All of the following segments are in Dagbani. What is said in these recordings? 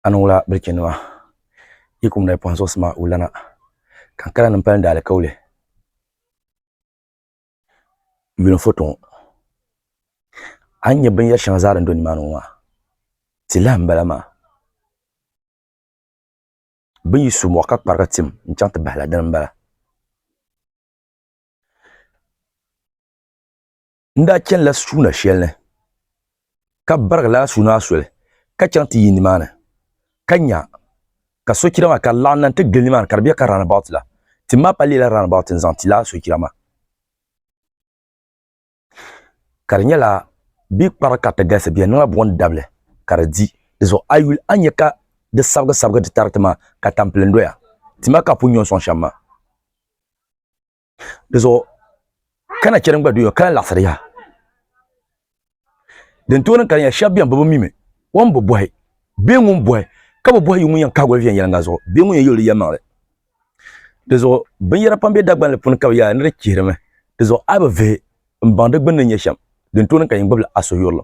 Anu ŋula bilichinima yi kum na pɔhim zuɣusi maa wula na, Kankala ni m-pali daalikauli yulim foto ŋɔ. A ni nya binyɛr shɛŋa zaa din do nimaani ŋɔ maa, ti lahi m-bala maa. Bɛ ni yi su mɔɣu ka kparigi tim n-chaŋ ti bahi la, dini m-bala. n daa chanila suuna shɛli ni, ka barigi lala suuna maa soli ka chaŋ ti yi nimaani, ka nya ka sochira maa ka di laɣim na nti gili nimaani ka di be ka round-about la. Tim maa pa leela round-about n-zaŋ ti lala sochira maa, ka di nyɛla bɛ kpari ka ti galisi, bɛ yɛn niŋla buɣim dabili ka di di. Di zuɣu a yi yuli a ni nya ka di sabigisabigi ti tari ti maa ka tampilim doya, ti maa ka a pun nyo n-sɔŋ shɛm maa. di zuɣu ka na chɛri n gba doya ka laɣasiri yaha din tooni ka di nyɛ shab biɛni bi bi mimi o ni bi bohi bee ŋun bohi ka bi bohi yi ŋun yɛn kahigoli viɛnyɛlinga zuɣu bee ŋun yɛn yuli di yɛlimaŋli di zuɣu binyɛra pam bɛ dagbanli puuni ka bi yaai ni di chihirimi di zuɣu a bi vihi n baŋ di gbunni nyɛ shɛm din tooni ka yɛn gbubila a suhuyurili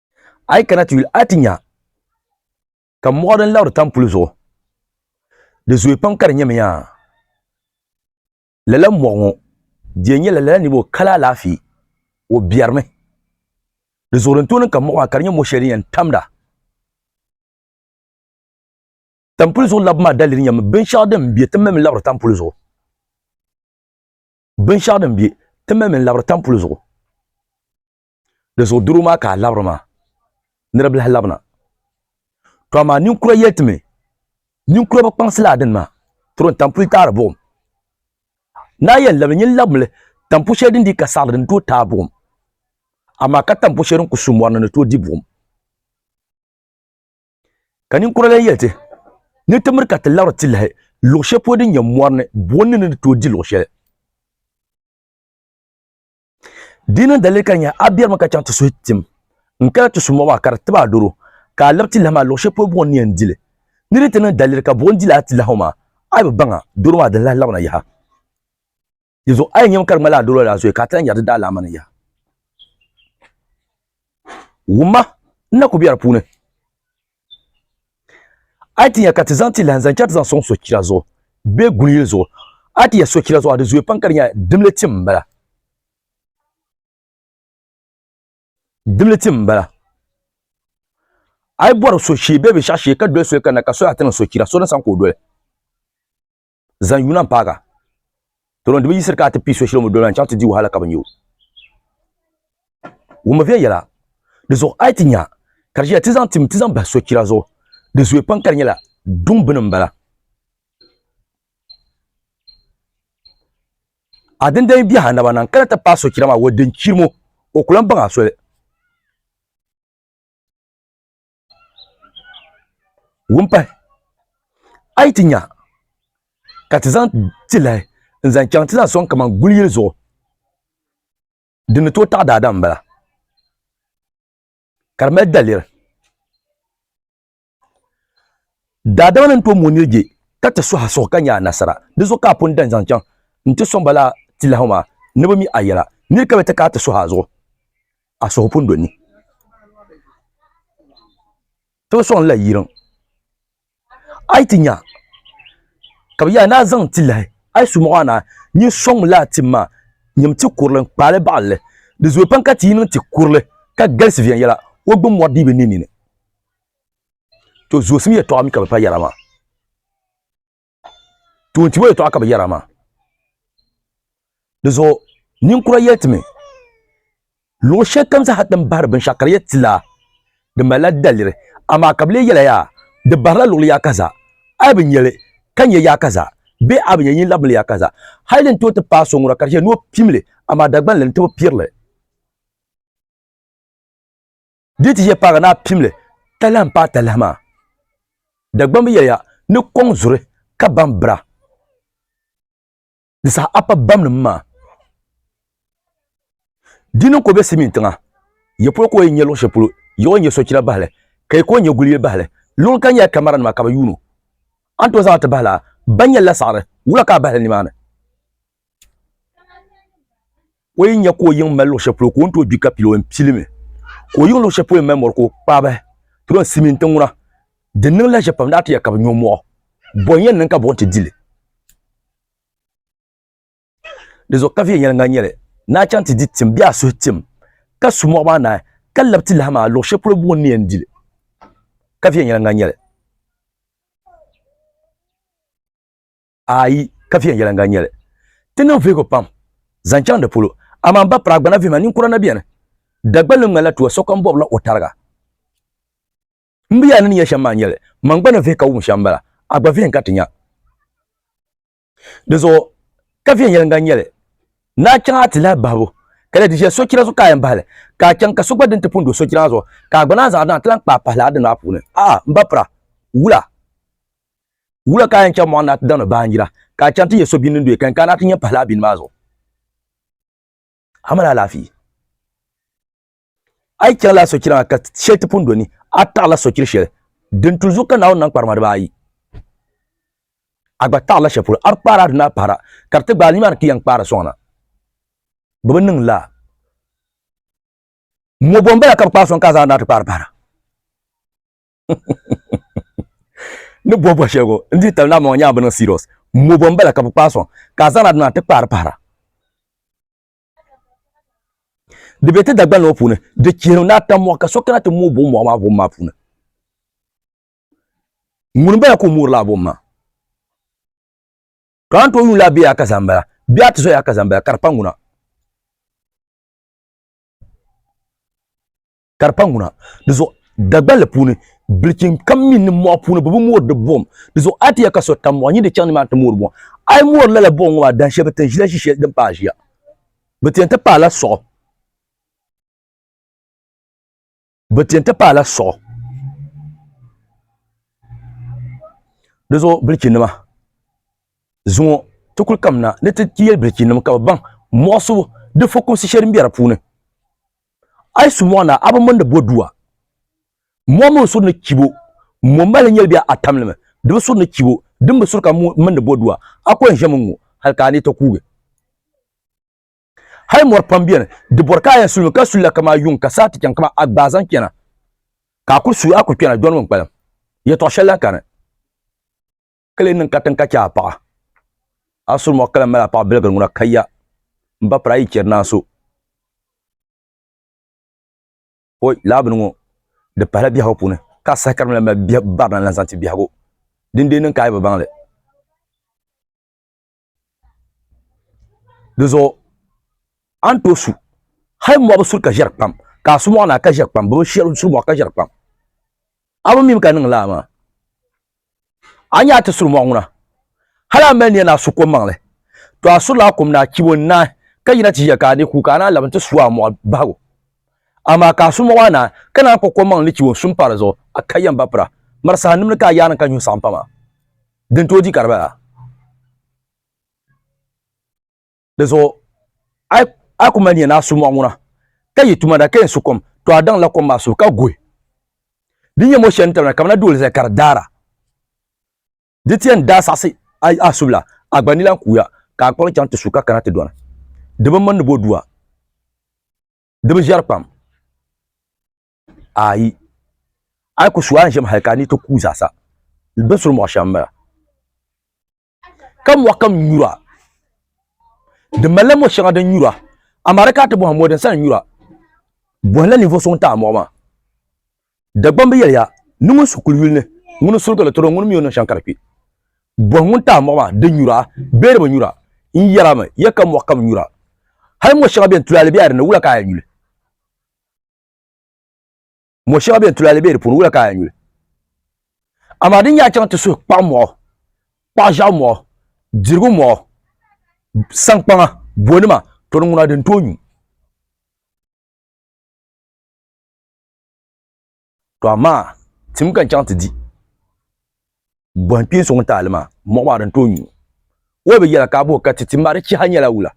a yi kana ti yuli a ti nya ka mɔɣu din labiri tam puli zuɣu di zooi pam ka di nyɛmi yaa lala mɔɣu ŋɔ di nyɛla lala niriba o kala alaafee o biɛrimi di zuɣu din tooni ka mɔɣu maa ka di nyɛ mɔ shɛli din yɛn tamda tampuli zuɣu labi maa dalili nyɛmi binshɛɣu din bɛ ti mali labiri tampuli zuɣu binshɛɣu din bɛ ti mali labiri tampuli zuɣu Di zuɣu doro maa ka a labiri maa ni di bi lahi labina. To amaa ninkura yɛli ti mi, Ninkura bi kpaŋsi laa dini maa, tiri n tampuli taari buɣim. Naa yɛn labili nyin labimi li tampu shɛli din dii ka saɣiri din tooi taai buɣim, amaa ka tampu shɛli din ku su mɔri ni ni tooi di buɣim. Ka ninkura lan yɛli ti, Ni ti miri ka ti labiri ti lahi luɣ shɛli polo din nyɛ mɔri ni, buɣim ni ni ni tooi di luɣ shɛli. Di niŋ dalili ka di nyɛla a biɛrimi ka chaŋ ti suhi tim n kana ti su mɔɣu maa ka di tib a doro ka a lab tilahi maa luɣ shɛli polo buɣim ni yɛn di li. Ni di ti niŋ daliri ka buɣim di lala tilahi maa, a yi bi baŋ a doro maa di ni lahi labina yaha. Dinzuɣu a yi nyami ka di ŋmalila a doro daa zoya ka a ti lahi nyari di daalaama ni yaha. Wumma n na ku biɛri puuni. a yi ti nya ka ti zaŋ ti lahin zaŋ chɛ ti zaŋ sɔŋ sochira zuɣu bee guli yili zuɣu, a yi ti yɛli sochira zuɣu a di zooi pam ka di nyɛla dimli tim m-bala. Dimli tim m-bala. A yi bɔri soshee bee binshɛɣu shee ka doli soli kanna ka soya ti niŋ sochira, so ni sani ka o doli. Zaŋ yuna m-paagi a. Tɔlɔn di bi yiɣisiri ka a ti pii so shili o mi doli a n-chaŋ ti di o hali ka bi nya o. Wummi viɛl yɛla, Di zuɣu a yi ti nya ka di ʒiya ti zaŋ tim ti zaŋ bahi sochira zuɣu, di zooi pam ka di nyɛla duŋ bini m-bala. A din daa yi biɛhi a naba na n-kana ti paai sochira maa, wɔ din chirim o, o ku lan baŋ a soli. wumpahi a yi ti nya ka ti zaŋ tilahi n zaŋ chaŋ ti zaŋ soŋ kamani guli yili zuɣu di ni tooi taɣi daadam n bala ka di mali daliri daadama ni ni tooi mooi nirije ka ti suhi a suhu ka nya anasara di zuɣu ka a pun dan zaŋ chaŋ n ti soŋ ba laa tilahi ŋɔ maa ni bi mi a yɛla niri ka bi ti ka a ti suhi a zuɣu a suhu pun do ni ti bi sɔŋ la yiriŋ a yi ti nya ka bi yaa ni a zaŋ ti lahi a yi su mɔɣu a naa nyin sɔŋmi laa tim maa nyim ti kurili n kpaali baɣalli di zooi pam ka ti yi niŋ ti kurili ka galisi viɛnyɛla o gbini mɔri dii bi niŋ nini to zoosim yɛtɔɣa mi ka bi pa yɛra maa tuuntibo yɛtɔɣa ka bi yɛra maa dizuɣu ninkura yɛli ti mi luɣu shɛli kam zaa ti ni bahari binshaɣu ka di yɛn tila di malila daliri amaa ka bi lee yɛla yaa di baharila luɣuli yaa kaza a yi bi nyɛli ka nyɛ yaa kaza bee a bi nyɛ yin labimli yaa kaza hali din tooi ti paai so ŋuna ka di chɛ ni o pimli amaa Dagbanli n ti bi pirili Di ti yɛ paagi ni a pimli talahi m-paai talahi maa. Dagbamba yɛliya ni kɔŋ zuri ka baŋ bira. Di saha a pa bamnim maa. Di niŋ ka o be Simiin tiŋa. Yi polo ka o yi nya luɣ shɛli polo, yi o nya sochira bahi li, ka yi ka o nya guli yili bahi li. Luŋ kam nyɛla kamaranima ka bɛ yuun o. A ni tooi zaŋ a ti bahi lala, ba nyɛlila saɣiri, wula ka a bahi li nimaani? o yi nya ka o yiŋ mali luɣ shɛli polo ka o ni tooi gbi ka pili o yɛn pilimi ka o yiŋ luɣ shɛli polo mali mɔri ka o kpaabi ti yɛn simi ti ŋuna di niŋla ʒiɛ pam daa ti yɛ ka bi nyo mɔɣu bɔn yɛn niŋ ka buɣim ti dili di zuɣu ka viɛnyɛliŋ ŋan nyɛli ni a chaŋ ti di tim bee a suhi tim ka su mɔɣu maa naai ka labi ti lahi maa luɣ shɛli polo buɣim ni yɛn dili ka viɛnyɛliŋ ŋan nyɛli ayi ka viɛnyɛliŋga n-nyɛ li. Ti niŋ vihigu pam zaŋ chaŋ di polo, amaa m ba Piragbana vihima ninkura na beni. Dagbal ni ŋmanila tuwa sokam bɔbila o tariga. M bi yaa ni ni nya shɛm maa n-nyɛ li, man gba ni vihi ka wum shɛm m-bala, a gba vihi n-ka ti nya. Di zuɣu ka viɛnyɛliŋga n-nyɛ li, ni a chaŋ a ti lahi bahibu, ka lahi di ʒiɛhi sochira zuɣu ka a yɛn bahi li, ka a chaŋ ka so gba din ti pun do sochira maa zuɣu, ka a gba naan zaŋ a daŋ ti lahi kpaai pahi li a dini maa puuni. A'a, m ba Pira, wula! Wula ka a yɛn chaŋ mɔɣu ni a ti damdi baanjira, ka a chaŋ ti yɛ so bini din doya ka yɛn kana a ti nyɛ m-pahi lala bini maa zuɣu? A mali alaafee? A yi chaŋla a sochira maa ka shɛli ti pun do ni, a taɣila sochir shɛli din tuli zuɣu ka Naawuni nam kparima dibaa ayi. A gba taɣirila shɛli polo, a bi kpaari a dini a pahira, ka di ti gbaai a nimaani ka i yɛn kpaari a sɔŋna. Bɛ bi niŋ lala. Mɔbo m-bala ka bɛ kpaai sɔŋ ka a zaŋ a ni a ti kpaari pahira. ni bɔ bɔ shɛli ko n di tali naa mɔŋɔ nyɛla bi niŋ serious mo bɔ n bala ka bi kpaai sɔŋ ka a zaŋna dina ti kpaari pahira di bɛ ti dagbani ŋɔ puuni di chihiri ni a tam mɔɣu ka so kana ti mooi bom mɔɣu maa bom maa puuni ŋuni bala ka o moori laa bom maa ka an to yuun laa bɛ yaa ka zaŋ bala bɛ a ti so yaa ka zaŋ bala ka di pa ŋuna ka di pa ŋuna di zuɣu dagballi puuni bilichim kam mini ni mɔɣu puuni bi bi moori di buɣum di zuɣu a ti yɛ ka so tam mɔɣu nyin di chaŋ ni maa ti moori buɣum a yi moori lala buɣum ŋɔ maa dan shɛli bi ti ʒila ʒi shɛli din paai ʒiya bi ti yɛn ti paai la suɣu bi ti yɛn ti paai la suɣu di zuɣu bilichim nima zuŋɔ ti kuli kamina ni ti yɛ bilichim nima ka bi baŋ mɔɣu subu di fukumsi shɛli din bɛ di puuni A yi su mɔɣu na, a bi mindi bɔdua. Mɔɣu mini suri ni chibo ŋun mali nyɛli bɛ a tamlimi, di bi suri ni chibo din bi suri ka mindi bɔdua. A kɔŋ ʒemi ŋ-ŋɔ hal ka a ni ti kuugi. Hal mɔri pam beni, di bɔri ka a yɛn sulimi ka sulila kaman yuŋ ka saa ti chaŋ kaman a gbaai zaŋ chana, ka a kul suui a kul kpɛna dɔni mini kpalim. Yɛtɔɣ shɛli lahi kani. kali niŋ katiŋ ka chɛ a paɣa a suri mɔɣu kala mali a paɣa biligiri ŋuna kaya m ba piri a yi chɛri ni a so o laa bini ŋɔ di pahila biɛhigu puuni ka a saha ka di mali mali barina n-lahi zaŋ ti biɛhigu dindee niŋ ka a yi bi baŋ li di zuɣu a ni tooi su hali mɔɣu bi suri ka ʒɛri kpam ka a su mɔɣu na ka ʒɛri kpam bi bi suri mɔɣu ka ʒɛri kpam a bi mim ka niŋ laa maa a nyɛ a ti suri mɔɣu ŋuna hali a mali niya ni a su kom maŋli to a surila a kom na a chibo n naai ka yina ti ʒiya ka a ni ku ka a naan labi n ti su a mɔɣu bahigu amaa ka a su mɔɣu maa naai ka naan kpuɣi kom maŋli ni chibo n su n pa di zuɣu a ka yɛn ba pira mari saha nimli ka a yaanima ka nyuhi saɣim pam a din tooi di Karbala di zuɣu a yi ku mali nya ni a su mɔɣu ŋuna ka yi tuma da ka yɛn su kom to a daŋla kom maa suhu ka guhi di nyɛ mɔ shɛli ni tabina kamina duoli zali ka di daara di ti yɛn daa saɣisi a subila a gba ni lan kuuya ka a kpuɣi chaŋ ti su ka kana ti dɔni di bi mini ni bɔ dua di bi ʒɛri kpam Ayi. A yi ku su a ni ʒiɛm hal ka a ni ti kuui zaasa, binsuri mɔɣu shɛm m-bala. Ka mɔɣu kam nyura. Di malila mɔ shɛŋa din nyura, amaa di kana ti bɔhim mɔ din sa ni nyura. Bɔhila ninvuɣ so ŋun taai mɔɣu maa. Dagbamba bi yɛliya, Ni ŋun su kuli yuli ni, ŋuni n-surigi li tiri o, ŋuni mi o niŋ shɛm ka di kpi? Bɔhi ŋun taai mɔɣu maa, Di nyura bee di bi nyura? N yɛrimi ya ka mɔɣu kam nyura. Hal mɔ shɛŋa bɛn tulaali bela di ni, wula ka a yɛn yuli? mo shɛŋa bɛn tulali bɛ di puuni wula ka a nyuli amaa din nyɛ a chaŋ ti suhi kpaɣu mɔɣu kpaɣu ʒiɛɣu mɔɣu dirigu mɔɣu sankpaŋa bonima to di ŋuna din tooi nyu to amaa tim ka n chaŋ ti di bɔhi kpeen so ŋun taali maa mɔɣu maa din tooi nyu o bi yɛla ka a bɔhi ka ti tim maa di chiha nyɛla wula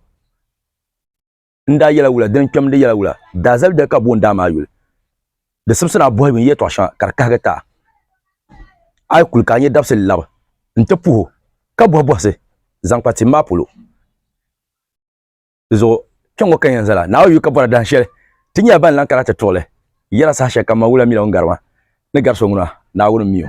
n daa yɛla wula din kpɛmdi yɛla wula daa zali dali ka boon daa maa yuli di simsi naa bɔhigu n yɛtɔɣ shɛŋa ka di kahigi taa a yi kuli ka a nyɛ dabisili labi n ti puhi o ka bɔhi bɔhisi zaŋ kpa tim maa polo di zuɣu kpɛŋŋo ka yɛn zala naa o yuli ka bɔra dahin shɛli ti nyɛla ban lan kana ti tuɣili yɛla saha shɛli kam ma wula mila ŋun gari ma ni gari so ŋuna Naawuni mi o